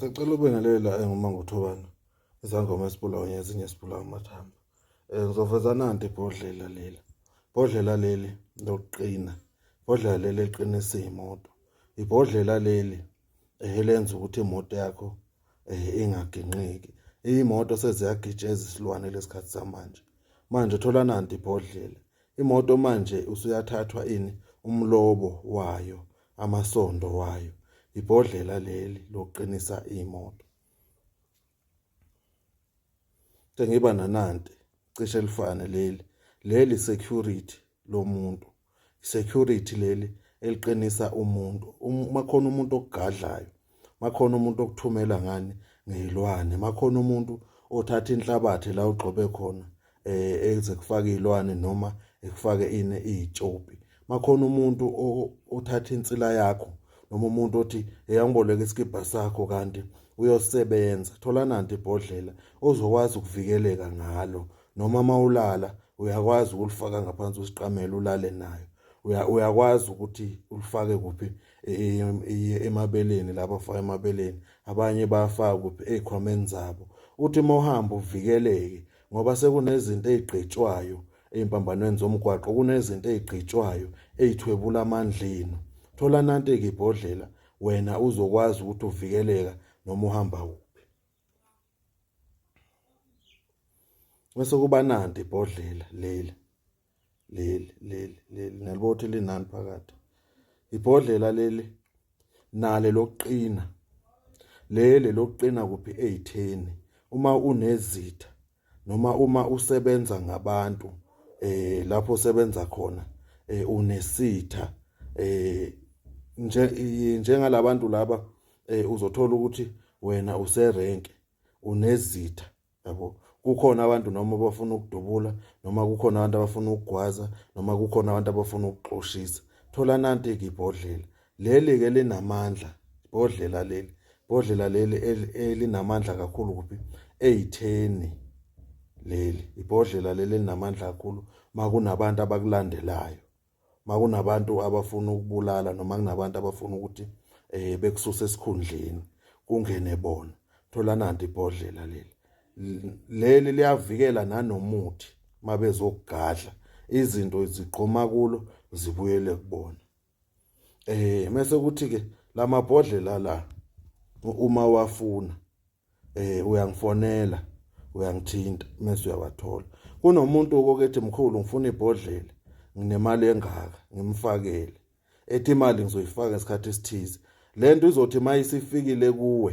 Sicela ube naleli la engoma ngothobana izangoma esibula onye ezinye esibula amathamba um ngizoveza nanti ibhodlela leli ibhodlela leli lokuqina ibhodlela leli eliqinisa iy'moto ibhodlela leli um elenza ukuthi imoto yakho um ingaginqiki iy'moto seziyagitsha ezisilwane lesikhathi samanje manje thola nanti ibhodlela imoto manje usuyathathwa ini umlobo wayo amasondo wayo ibhodlela leli lokuqinisa imoto sengiba nanante cishe lifane leli leli security lomuntu security leli eliqinisa umuntu uma khona umuntu ogadlayo makhona umuntu okuthumela ngani ngeyilwane makhona umuntu othatha inhlabathi la ugxobe khona eh eze kufaka izilwane noma ekufake ine izitshopi makhona umuntu othatha insila yakho noma umuntu othi eyangiboleka isikibha sakho kanti uyosebenza thola nanti ibhodlela ozokwazi ukuvikeleka ngalo noma mawulala uyakwazi ukulifaka ngaphansi kwesiqamelo ulale nayo uyakwazi ukuthi ulifake kuphi iye emabeleni laba faka emabeleni abanye bayafaka kuphi ezikhwameni zabo uthi uma uhamba uvikeleke ngoba sekunezinto ezigqitshwayo ezimpambanweni zomgwaqo kunezinto ezigqitshwayo ezithwebula amandleni thola nanti ke ibhodlela wena uzokwazi ukuthi uvikeleka noma uhamba kuphi Bese kuba nanti ibhodlela leli leli leli leli nalibothe linani phakathi ibhodlela leli nale lokuqina leli lokuqina kuphi ezitheni uma unezitha noma uma usebenza ngabantu eh lapho usebenza khona eh unesitha eh nje njengalabantu laba eh uzothola ukuthi wena userenke unezitha yabo kukhona abantu noma abafuna ukudubula noma kukhona abantu abafuna ukugwaza noma kukhona abantu abafuna ukuxoshisa thola nanti ke ibhodlela Leli ke linamandla ibhodlela leli ibhodlela leli elinamandla kakhulu kuphi eyitheni leli ibhodlela leli elinamandla kakhulu makunabantu abakulandelayo makunabantu abafuna ukubulala noma kunabantu abafuna ukuthi eh bekususe esikhundleni kungene bona thola nanti ibhodlela leli leli liyavikela nanomuthi mabezokugadla izinto zigqoma kulo zibuyele kubona eh mase kuthi ke lamabhodlela la uma wafuna eh uyangifonela uyangithinta mase uyawathola kunomuntu okokethi mkhulu ngifuna ibhodlela nginemali engaka ngimfakele ethi imali ngizoyifaka ngesikhathi esithize lento izothi mayisifikile kuwe